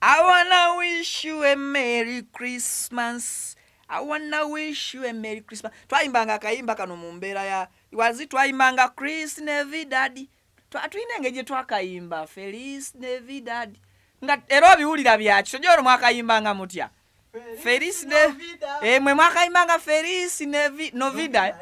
I wanna wish you a Merry Christmas. I wanna wish you a Merry Christmas. Twayimbanga akayimba kano mu mbeera ya wazi twayimbanga Chris Navidad. Twatulina engeri gye twakayimba Feliz Navidad. Nga era obiwulira byaki toja olwo mwakayimbanga mutya Feliz Navidad. Eh, mwe mwakaimanga Feliz Navi, Novida. eh?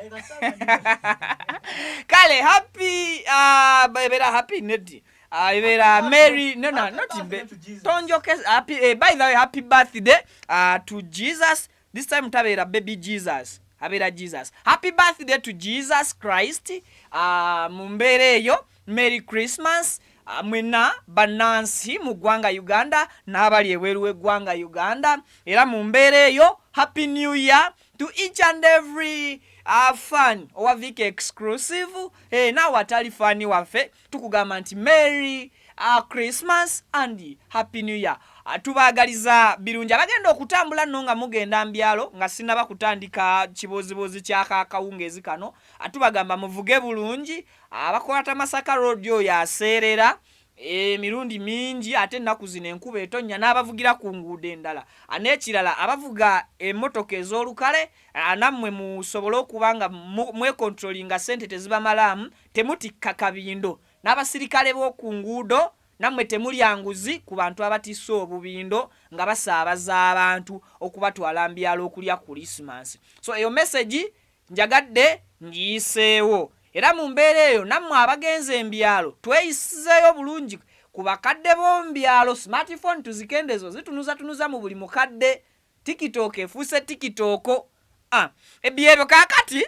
Kale happy uh, bebera happy neti. Uh, ibera Mary no no not birthday be, to Jesus. tonjo kes happy eh, by the way happy birthday uh, to Jesus this time tabera baby Jesus abera Jesus happy birthday to Jesus Christ uh, mumbere eyo Merry Christmas ah, mwena banansi mu ggwanga Uganda n'abali ebweru w'eggwanga Uganda era mu mbeera eyo happy new year to each and every uh, fan owa Vic exclusive hey, eh, naawe atali fani waffe tukugamba nti Merry uh, Christmas and happy new year uh, tubaagaliza birungi abagenda okutambula nno nga mugenda mbyalo nga sinaba kutandika kibuuzibuuzi kyakaakawungeezi kano uh, tubagamba muvuge bulungi Abakwata Masaka Road oyo aseerera emirundi mingi ate ennaku zino enkuba etonnya n'abavugira ku nguudo endala. N'ekirala abavuga emmotoka ez'olukale nammwe musobole okuba nga mwekontulolinga ssente tezibamalaamu, temutikka kabindo. N'abasirikale b'oku nguudo nammwe temulya nguzi ku bantu abatisse obubindo nga basaabaza abantu okubatwala mu byalo okulya Kulisimansi. So eyo mesegi Njagadde ngiyiseewo era mu mbeera eyo nammwe abagenze mu byalo tweyisizeeyo bulungi ku bakadde b'omu byalo. Smart phone tuzikendezo zitunuzatunuza mu buli mukadde. Tikitooko efuuse tikitooko. Ah, ebyebyo kaakati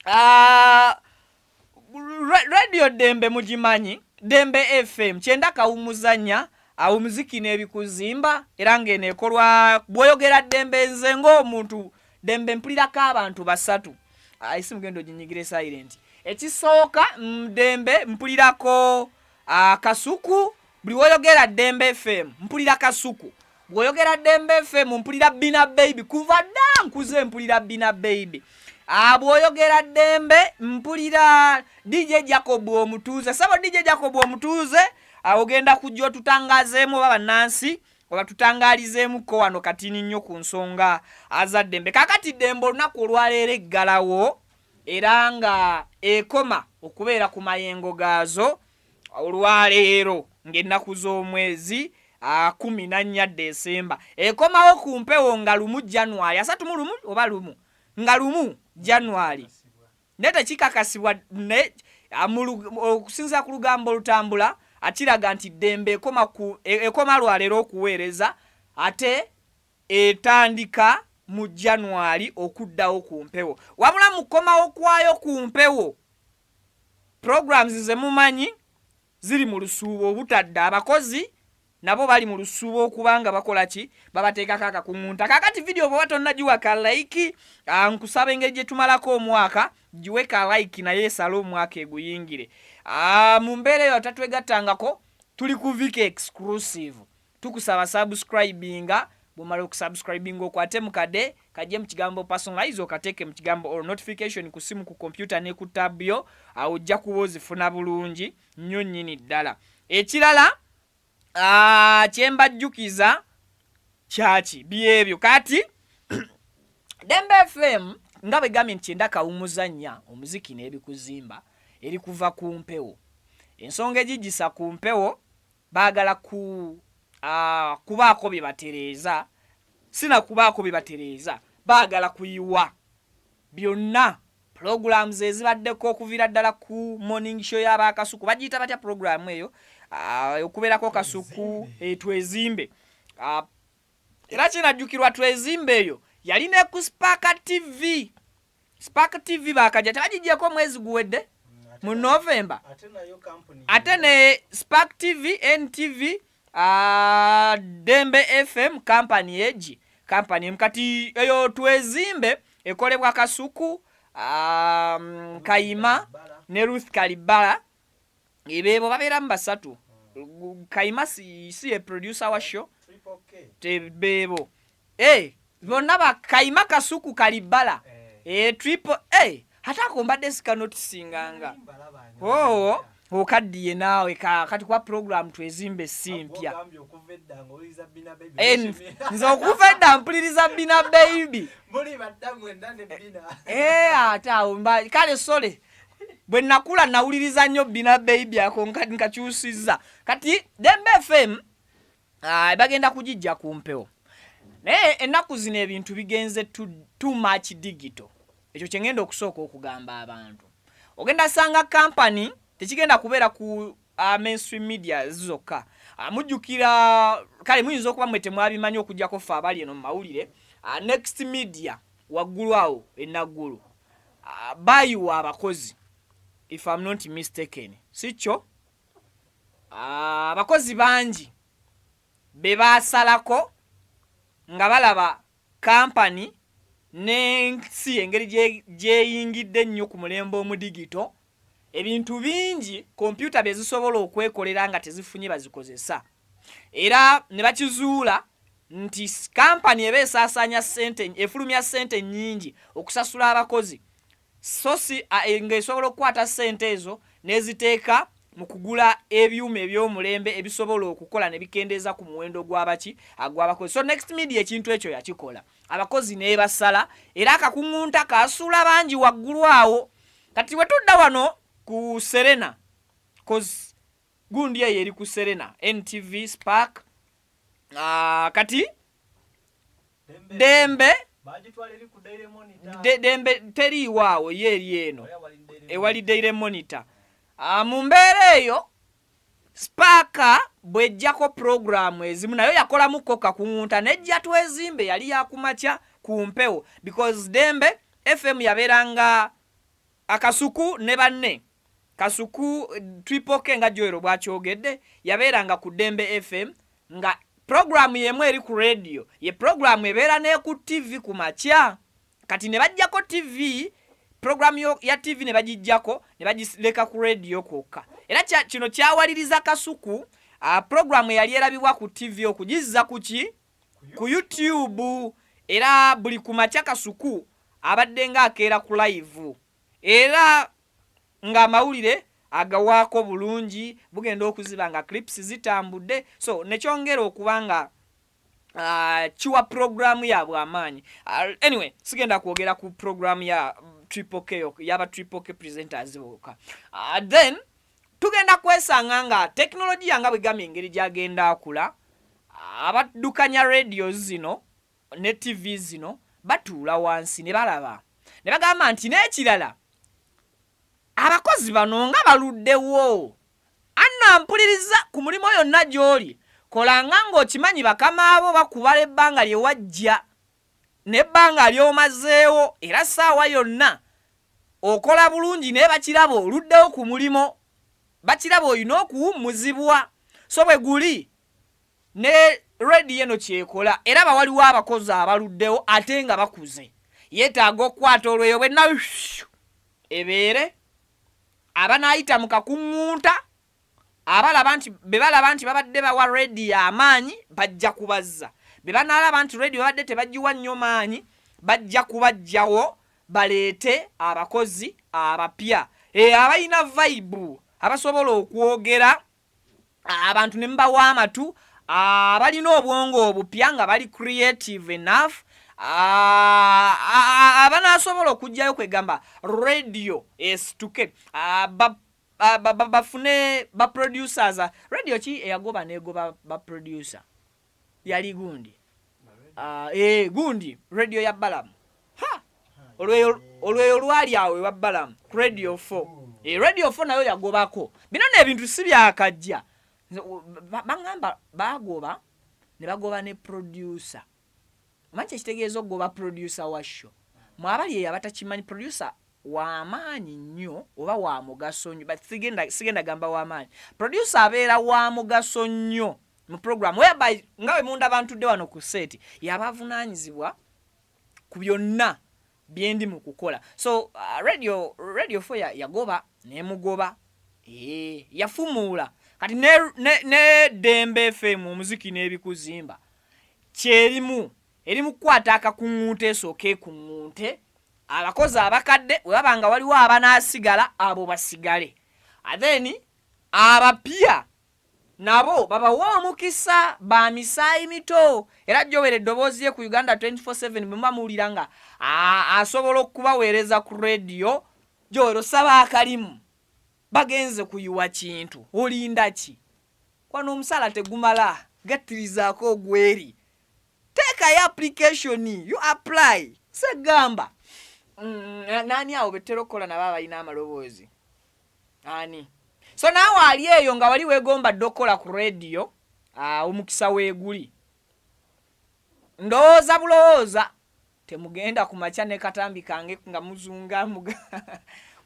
ah, radio dembe mugimanyi dembe fm kyenda kawumuzanya awo muziki n'ebikuzimba era ng'eno ekolwa bwoyogera dembe nze ng'omuntu dembe mpulirako abantu basatu ah, esi mugenda oginyigire silent ekisooka mm, dembe mpulirako Ah, kasuku buli woyogera dembe fm mpulira kasuku bwoyogera dembe fm mpulira bina baby kuva dda nkuze mpulira bina baby ah, bwoyogera dembe mpulira dj jacob omutuuze sabo dj jacob omutuuze ah, ogenda kujja otutangazeemu oba bannansi obatutangalizeemuko wano katini nnyo ku nsonga azaddembe kakati dembe olunaku olwaleero eggalawo era nga ekoma okubeera ku mayengo gaazo olwaleero ng'ennaku z'omwezi akumi na nnya Ddesemba ekomawo ku mpewo nga lumu January asatu mu lumu oba lumu nga lumu January naye tekikakasibwa naye okusinzira ku lugambo olutambula akiraga nti ddembe ekoma ku e, ekoma lwaleero okuweereza ate etandika mu January okuddawo ku mpewo wabula mu kukomawo kwayo ku mpewo programs ze mumanyi ziri mu lusuubo obutadda abakozi nabo bali mu lusuubo okuba nga bakola ki babateekako akakuŋŋunta kaakati vidiyo bw'oba tonnagiwa ka layiki ah, nkusaba engeri gye tumalako omwaka giwe ka layiki naye esale omwaka eguyingire ah, mu mbeera eyo tatwegattangako tuli ku vika exclusive Tukusaba subscribinga bwomala okusubscribinga okwate mukade kajje mu kigambo personalize okateeke mu kigambo or notification ku simu ku kompyuta ne ku tab yo awo ojja kuba ozifuna bulungi nnyo nnyini ddala ekirala ah, kyembajjukiza kyaki byebyo kati dembe fm nga bwe gambye nti kyenda kawumuza nnya omuziki n'ebikuzimba eri kuva ku mpewo ensonga egigisa ku mpewo Baagala ku, ah, kubaako bye batereeza, si na kubaako bye batereeza, baagala kuyiwa byonna. Pulogulaamuzi ezibaddeko okuviira ddala ku Morning Show ya ba Kasuku, bagiyita batya pulogulaamu eyo, ah, okubeerako Kasuku, eh, Twezimbe, ah, era kinajjukirwa twezimbe eyo yali ne ku spark tv spark tv bakajja tebagijjeko omwezi guwedde mu november ate ne spark tv ntv uh, dembe fm kampani egi kampani emu kati eyo twezimbe ekolebwa kasuku um, kayima ne ruth kalibala ebebo babeeramu basatu hmm. kayima si ye producer wa show tebebo eh, bonna bakayima kasuku kalibbala eh. eh, triple a ate ako mbadde sikanotisinganga oo oh, okaddiye naawe kati kuba puroguramu twezimba esimpya nze okuva edda mpuliriza bina baibi ate awo kale sole bwe nakula nawuliriza nnyo bina baby ako nkakyusizza kati dembe fm ah, bagenda kugijja ku mpewo naye ennaku zino ebintu bigenze too much digito ekyo kyengenda okusooka okugamba abantu ogenda sanga kampany tekigenda kubeera ku uh, mainstream media zokka uh, mujjukira kale muyinza okuba mwe temwabimanyi okujjako ffe abali eno mumawulire uh, next media waggulu awo enaggulu uh, bayiwa abakozi if am not mistaken sikyo uh, abakozi bangi be basalako nga balaba kampani n'ensi engeri gyeyingidde ennyo ku mulembe omudigito Ebintu bingi kompyuta bye zisobola okwekolera nga tezifunye bazikozesa era ne bakizuula nti kampani eba esaasaanya ssente efulumya ssente nnyingi okusasula abakozi so si ng'esobola okukwata ssente ezo n'eziteeka mu kugula ebyuma eby'omulembe ebisobola okukola ne bikendeeza ku muwendo gw'abaki agw'abakozi so next media ekintu ekyo yakikola. abakozi nebasala era akakuŋunta kasuula bangi waggulu awo kati wetudda wano ku serena cause gundi eyo eri ku serena ntv spark uh, kati dembe dembe teriiwaawo ye eri eno ewali daire monitor uh, mu mbeera eyo Sipaaka bw'eggyako pulogulaamu ezimu nayo yakolamu kko kakuwunta n'eggya Twezimbe yali ya ku makya ku mpewo because Dembe FM yabeeranga Kasuku ne banne Kasuku Triple K nga Joel bw'akyogedde yabeeranga ku Dembe FM nga pulogulaamu y'emu eri ku leediyo ye pulogulaamu ebeera n'eku ttivvi ku makya. kati ne bajjako ttivi pulogulaamu ya ttivi ne bagijjako ne bagireka ku leediyo kwokka era kino kyawaliriza kasuku ah, pulogulaamu eyali erabibwa ku ttivi okugizza ku ki ku youtube era buli ku makya kasuku abadde nga akeera ku layivu era ng'amawulire agawaako bulungi bugenda okuziba nga clips zitambudde so nekyongera okuba nga Ah, kiwa programu yabwe amaanyi ah, anyway sigenda kwogera ku programu ya triple k yaba triple k presenters boka ah, then tugenda kwesanga nga tekinologiya nga bwegamba engeri gyagenda akula abaddukanya radio zino ne tv zino batuula wansi ne balaba ne bagamba nti n'ekirala Abakozi bano nga baluddewo? Anna mpuliriza ku mulimo yonna gy'oli kolanga ng'okimanyi bakama bo bakubala ebbanga lye wajja n'ebbanga ly'omazeewo era ssaawa yonna okola bulungi naye bakiraba oluddewo ku mulimo bakiraba olina okuwummuzibwa so bwe guli Ne radio eno kyekola eraba waliwo abakozi abaluddewo ate nga bakuze yetaaga okukwata olweyo bwenna ebeere abanaayita mu kakuŋŋunta abalaba nti be balaba nti babadde bawa radio amaanyi bajja kubazza be banaalaba nti radio babadde tebagiwa nnyo maanyi bajja kubajjawo baleete abakozi abapya e abalina vaibu abasobola okwogera abantu ne mubawa amatu abalina ah, obwongo obupya nga bali creative enough ah, ah, abanasobola okugjayo kwegamba radio esituke bafune baproducers radio ki eyagoba negoba baproducer yali gundi uh, eh, gundi radio ya balamu olweyo lwali awo ewa balamu ku radio 4 e eh, radio 4 nayo yagobako bino nebintu si byakajja baŋamba bagoba ne bagoba ne producer omanyi kyekitegeeza okugoba producer wa sho mwabali eyo abatakimanyi producer wamaanyi nnyo oba wa mugaso nnyo sigenda gamba wamaanyi producer abeera wa mugaso nnyo mu program whereby nga bwe munda bantudde wano ku seeti yaba avunaanyizibwa ku byonna byendi mu kukola so uh, radio radio fo yagoba nemugoba ee yafumuula kati ne, ne, ne dembe fm omuziki n'ebikuzimba kyerimu eri mu kukwata akakuŋŋunte esooka ekuŋŋunte abakozi abakadde webaba nga waliwo abanaasigala abo basigale atheni abapya nabo babawe omukisa ba misaayi mito era jowere eddoboozi ye ku Uganda 24 7 bwemuba muwulira nga asobola okubaweereza ku radio jowere osaba akalimu bagenze kuyiwa kintu olindaki wano omusaala tegumala gattirizaako ogweri teekayo application you apply segamba mm, nani awo bettera okukola nabo abalina amaloboozi ani so naawe ali eyo nga wali wegomba dde okukola ku rediyo ah, omukisa weeguli ndowooza bulowooza temugenda ku makya ne katambi kange nga muzunga muga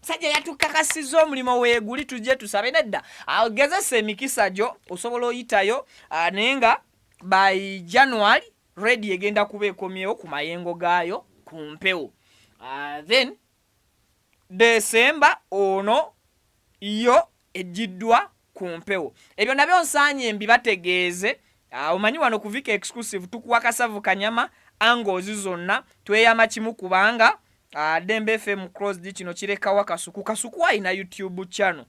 musajja yatukakasiza omulimu weeguli tujje tusabe nedda agezesa ah, emikisa gyo osobola oyitayo ah, naye nga by january rediyo egenda kuba ekomyewo ku mayengo gaayo ku mpewo then December ono yo ejjiddwa ku mpewo. Ebyo nabyo nsaanye mbibategeeze, omanyi wano ku Vic Exclusive tukuwa kasavu kanyama angles zonna, tweyama kimu kubanga Dembe FM closed kino kirekawa kasuku, kasuku alina YouTube channel.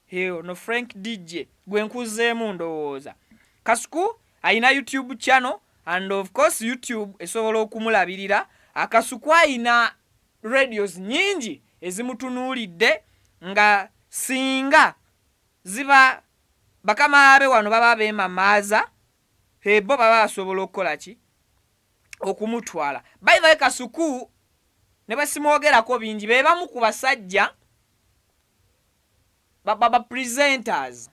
Hey, ono Frank DJ gwe nkuzeemu ndowooza Kasuku alina YouTube channel and of course YouTube esobola okumulabirira. Akasuku alina radios nyingi ezimutunuulidde nga singa ziba bakama abe wano baba beemamaaza ebo baba basobola okukola ki okumutwala. By the way Kasuku ne bwe simwogerako bingi be bamu ku basajja ba, ba, ba presenters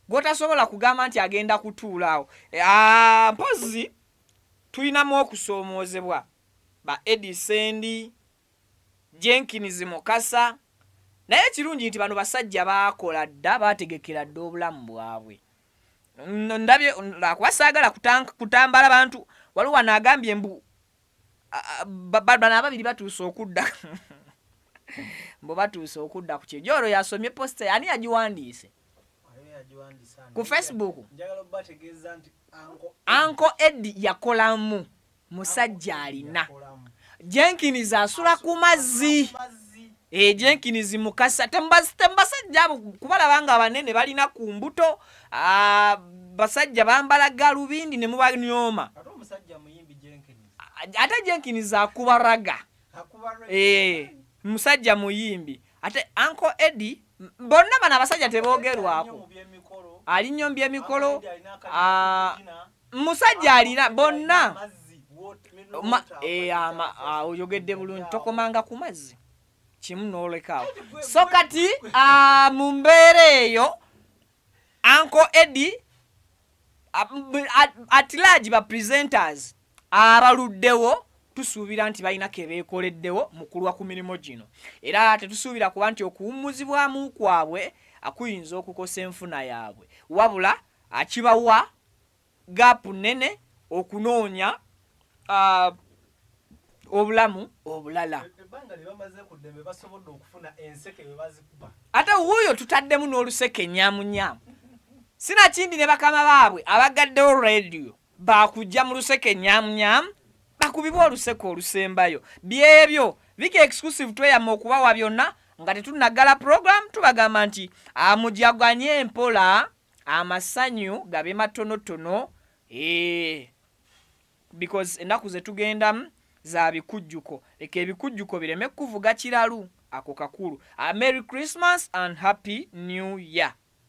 gwotasobola kugamba nti agenda kutuula awo e, ah, mpozi tulinamu okusoomoozebwa ba edi sendi jenkins mukasa naye ekirungi nti bano basajja baakola dda baategekera dda obulamu bwabwe ndabye lwakuba saagala kutambala bantu waliwo wano agambye mbu bano ababiri batuuse okudda mbu batuuse okudda ku kyejo olwo yasomye posita ani yagiwandiise ku facebook anko edi yakolamu musajja alina jenkins asula ku mazzi ejenkinizi mukasa tembasajja abo kubalaba nga abanene balina ku mbuto ah, basajja bambala galubindi ne mubanyooma ate jenkinizi akuba raga eh, musajja muyimbi ate anko edi bonna bano abasajja tebogerwako ali nyo mu byemikolo musajja alina bonna eh, ah, oyogedde bulungi tokomanga ku mazzi kimu nolekaawo so kati ah, mu mbeera eyo anko edi atilaagi ba presenters abaluddewo tusuubira nti balina kebeekoleddewo mu kulwa ku mirimu gino era tetusuubira kuba nti okuwummuzibwamu kwabwe akuyinza okukosa enfuna yaabwe wabula akibawa gaapu nnene okunoonya obulamu obulala ate wuuyo tutaddemu n'oluseke nyamunyamu sinakindi ne bakama baabwe abagaddewo rediyo bakujja mu luseke nyamunyamu bakubibwa oluseke olusembayo byebyo vika exclusive tweyama okubawa byonna nga tetunaggala program tubagamba nti amujaganye mpola amasanyu gabe matonotono eh, because ennaku zetugendamu za bikujjuko leka ebikujjuko bireme kukuvuga kiralu ako kakulu. A merry Christmas and happy new year.